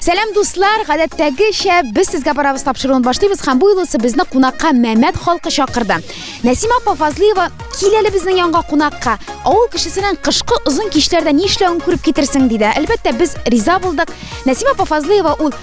Сәлам дуслар, гадәттәгечә без сезгә барабыз тапшыруын башлыйбыз һәм бу юлысы безне кунакка Мәмәт халкы чакырды. Нәсима апа Фазлыева кил әле безнең янга кунакка. Авыл кешесенең кышкы озын кичләрдә ни эшләвен күреп китерсең диде. Әлбәттә, без риза булдык. Нәсима апа Фазлыева ул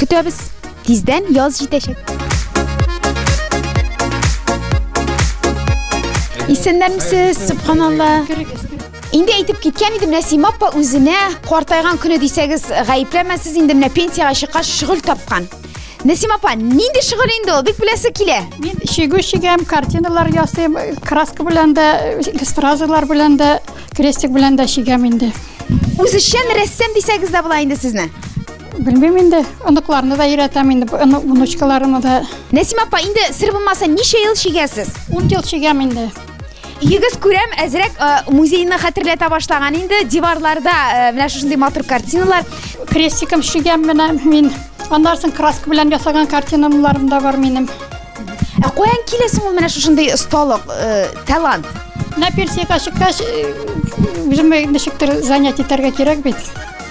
Көтәбез. Тиздән яз җитәчәк. Исәннәрмесез, субханалла. Инде әйтеп киткән идем, Нәсима апа үзенә картайган көне дисәгез, гаепләмәсез инде менә пенсияга чыккач шөгыль тапкан. Нәсима апа, нинди шөгыль инде ул? Бик беләсе килә. Мин чигү чигәм, картиналар ясыйм, краска белән дә, стразалар белән дә, крестик белән дә чигәм инде. Үзешчән рәссам дисәгез дә була инде сезне. Белмим инде, оныкларны да өйрәтәм инде, внучкаларымны да. Нәсим апа, инде сер булмаса ничә ел чигәсез? 10 ел чигәм инде. Егез күрәм, әзрәк э, музейны хәтерләтә башлаган инде. Диварларда э, менә шушындый матур картиналар. Крестиком чигәм менә мин. Аннан соң краска белән ясаган картиналарым да бар минем. Ә каян килә соң ул менә шушындый осталык, э, талант? Менә пенсиягә чыккач, э, үземә ничектер занятие итәргә кирәк бит.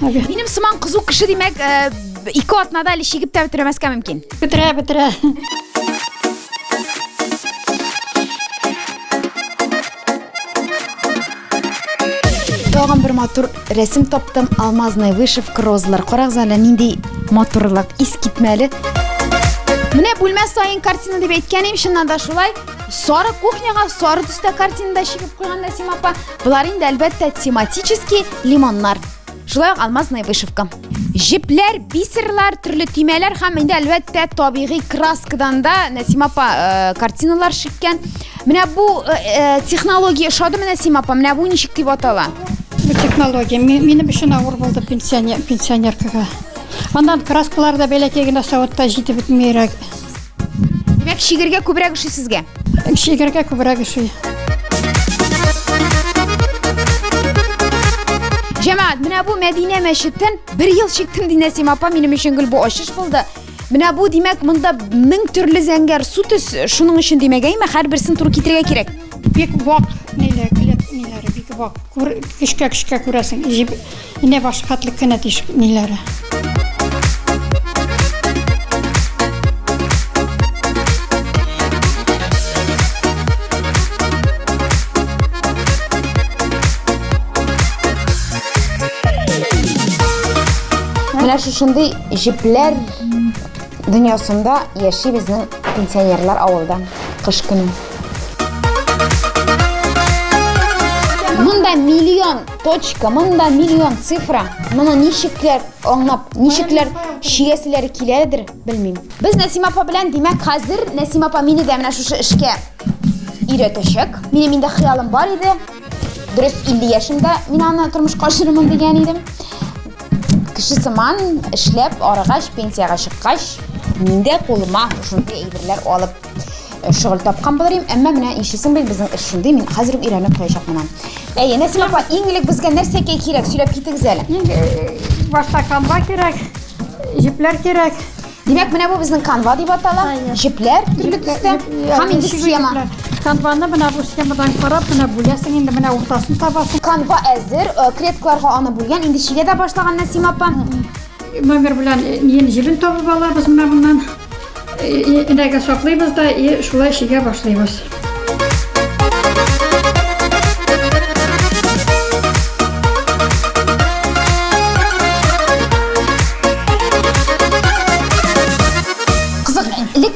Минем сыман кызу кеше димәк, э, ике атнада әле чигеп тә бетермәскә мөмкин. Бетерә, бетерә. Тагын бер матур рәсем таптым. Алмазная вышивка, розалар. Карагыз әле нинди матурлык, искитмәле. Менә бүлмә саен картина дип әйткән идем, чыннан да шулай. Сары кухняга сары төстә картинада чигеп куйган Нәсим апа. Болар инде әлбәттә тематический лимоннар. Шулай ук алмазная вышивка. Җепләр, бисерлар, төрле төймәләр һәм инде әлбәттә табигый краскадан да Нәсима апа э, картиналар шиккән. Менә бу э, э, технология ошадымы Нәсима апа? Менә бу ничек дип атала? Бу технология минем өчен авыр булды пенсионер пенсионеркага. Аннан краскалар да бәләкәй генә савытта җитеп бетмәйрәк. Димәк, шигергә күбрәк ошый сезгә? Шигергә күбрәк ошый. Җәмәгать, менә бу Мәдинә мәчеттән бер ел чиктем ди Нәсим апа, минем өчен гел бу ачыш булды. Менә бу димәк, монда мең төрле зәңгәр су төс, шуның өчен димәгәйме, һәрберсен туры китерергә кирәк. Бик вак ниләр, ниләр, бик вак. Күр, кешкә-кешкә күрәсең. Инә башы хәтлек кенә тишек ниләре. Менә шушындый җепләр дөньясында яши безнең пенсионерлар авылда кыш көне. Монда миллион Точка, монда миллион цифра. Моны ничекләр аңлап, ничекләр чигәселәре киләдер, белмим. Без Нәсима апа белән, димәк, хәзер Нәсима апа мине дә менә шушы эшкә өйрәтәчәк. Минем инде хыялым бар иде. Дөрес 50 яшемдә мин аны тормышка ашырырмын дигән идем. Кеше сыман эшләп арыгач, пенсиягә чыккач, мин дә кулыма шундый әйберләр алып э, шөгыль тапкан булыр идем, әмма менә ишесен бел безнең эш шундый, мин хәзер үк өйрәнеп куячак менә. Әйе, Нәсим апа, иң элек безгә нәрсә кирәк, сөйләп китегез әле. Иң э, башта камба кирәк, җепләр кирәк. Димәк, менә бу безнең канва дип атала. Җепләр төрле төстә һәм инде схема. Канваны менә бу схемадан карап, менә бүләсең инде менә уртасын табасың. Канва әзер, э, клеткаларга аны бүлгән, инде чигә дә башлаган Нәсим апа. Номер белән ен җебен табып алабыз менә моннан. Инәгә саклыйбыз да и шулай шигә башлыйбыз.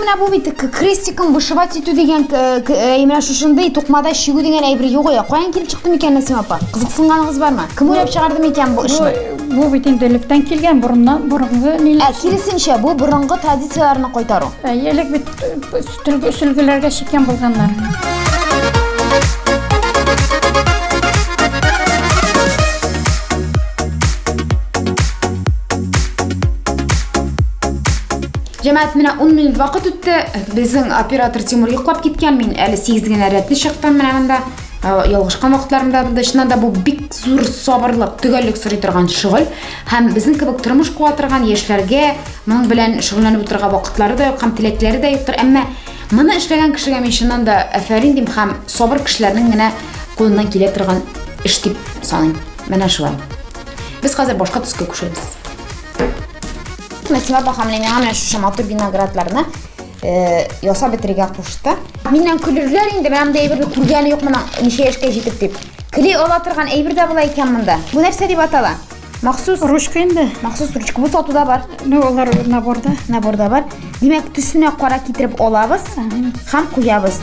менә бу бит крестиком вышивать итү дигән менә шушындый тукмада чигү дигән әйбер юк я каян килеп чыкты микән нәсимә апа кызыксынганыгыз бармы кем уйлап чыгарды микән бу эшне Бу бит инде электән килгән борыннан борынгы ниләр. Ә киресенчә, бу борынгы традицияләрне кайтару. Ә элек бит сөлге сөлгеләргә чиккән булганнар. Җәмәгать, менә 10 минут вакыт үтте. Безнең оператор Тимур йоклап киткән. Мин әле 8 генә рәтле чыктым менә монда. ялгышкан вакытларында да чыннан да бу бик зур сабырлык төгәллек сорый торган шөгыль һәм безнең кебек тормыш куа торган яшьләргә моның белән шөгыльләнеп утырырга вакытлары да юк һәм теләкләре дә юктыр әмма моны эшләгән кешегә мин чыннан да әфәрин дим һәм сабыр кешеләрнең генә кулыннан килә торган эш дип саныйм менә шулай без хәзер башка төскә күчәбез Мәсимә апа һәм Ләмиңа менә шушы матур виноградларны э, ясап бетерергә кушты. Миннән көлерләр инде, менә монда әйберне күргәне юк моның ничә яшькә җитеп дип. Кли ала торган әйбер дә була икән монда. Бу нәрсә дип атала? Махсус ручка инде. Махсус ручка бу сатуда бар. Ну, алар наборда. Наборда бар. Димәк, төсенә кара китереп алабыз һәм куябыз.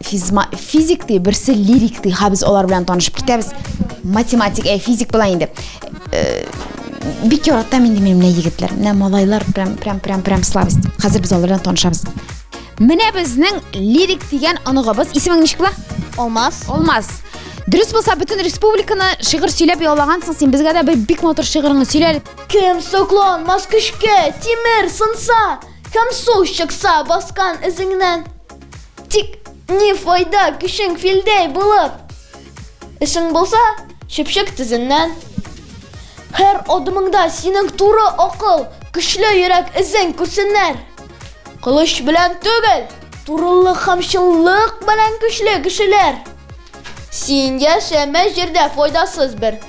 Физма, физик ди, берсе лирик ди. Ха без алар белән танышып китәбез. Математик, ә физик була инде. Э, бик яратам инде мин менә егетләр. Менә малайлар прям прям прям прям слабость. Хәзер без алар белән танышабыз. Менә безнең лирик дигән оныгыбыз. Исемең ничек була? Алмаз. Алмаз. Дөрес булса, бөтен республиканы шигырь сөйләп ялагансың син. Безгә дә бер бик матур шигыреңне сөйлә әле. Кем сокланмас көчкә, тимер сынса, Камсу чыкса баскан эзеңнән Тик ни файда көчең филдәй булып Эшең булса чөпчек тезеннән Һәр адымыңда синең туры акыл Көчле йөрәк эзең күрсеннәр Кылыч белән түгел, турылык һәм чынлык белән көчле кешеләр Син яшәмә җирдә файдасыз бер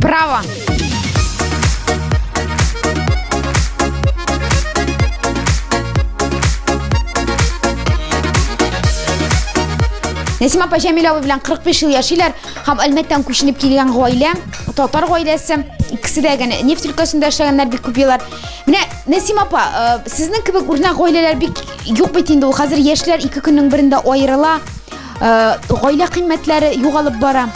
Браво! Нәсима апа Җәмиләва белән 45 ел яшиләр һәм Әлмәттән күченеп килгән гаилә, татар гаиләсе. Икесе дә генә нефть өлкәсендә эшләгәннәр бик күп еллар. Менә Нәсима апа, э, сезнең кебек үрнәк гаиләләр бик юк бит инде ул. Хәзер яшьләр ике көннең берендә аерыла. гаилә кыйммәтләре югалып бара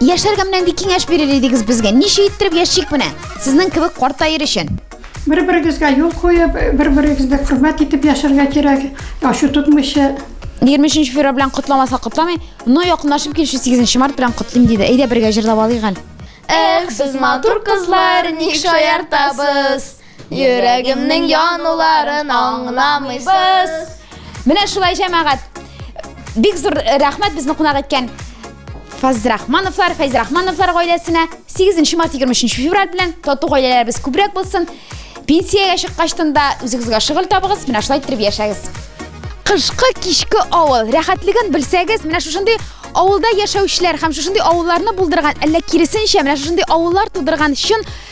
яшәргә менә нинди киңәш бирер идегез безгә ничә иттереп яшик менә сезнең кебек картаер өчен бер берегезгә юл куеп бер берегезне хөрмәт итеп яшәргә кирәк ачу тотмыйча егерме өченче февраль белән котламаса котламый но якынлашып килүче сигезенче март белән котлыйм диде әйдә бергә җырлап алыйк әле эх сез матур кызлар ник шаяртасыз Йөрәгемнең януларын аңламыйсыз. Менә шулай җәмәгать. Бик зур рәхмәт безне кунак иткән Фазрахмановлар, Фәйзрахмановлар гаиләсенә 8 март 23 февраль белән тату гаиләләребез күбрәк булсын. Пенсиягә чыккачтан да үзегезгә шөгыль табыгыз, менә шулай итеп яшәгез. Кышкы кичке авыл рәхәтлеген белсәгез, менә шушындый авылда яшәүчеләр һәм шушындый авылларны булдырган, әллә киресенчә, менә шушындый авыллар тудырган чын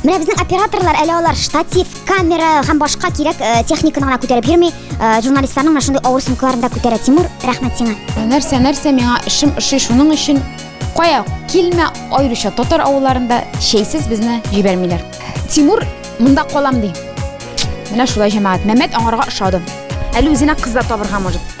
Менә безнең операторлар әле алар штатив, камера һәм башка кирәк э, техниканы гына күтәреп йөрми. Э, журналистларның менә шундый авыр сумкаларын да күтәрә. Тимур, рәхмәт сиңа. Нәрсә, нәрсә миңа эшем ошый, шуның өчен кая килмә, аеруча татар авылларында чәйсез безне җибәрмиләр. Тимур монда калам ди. Менә шулай җәмәгать. Мәмәт аңарга ошады. Әле үзенә кыз да табырга может.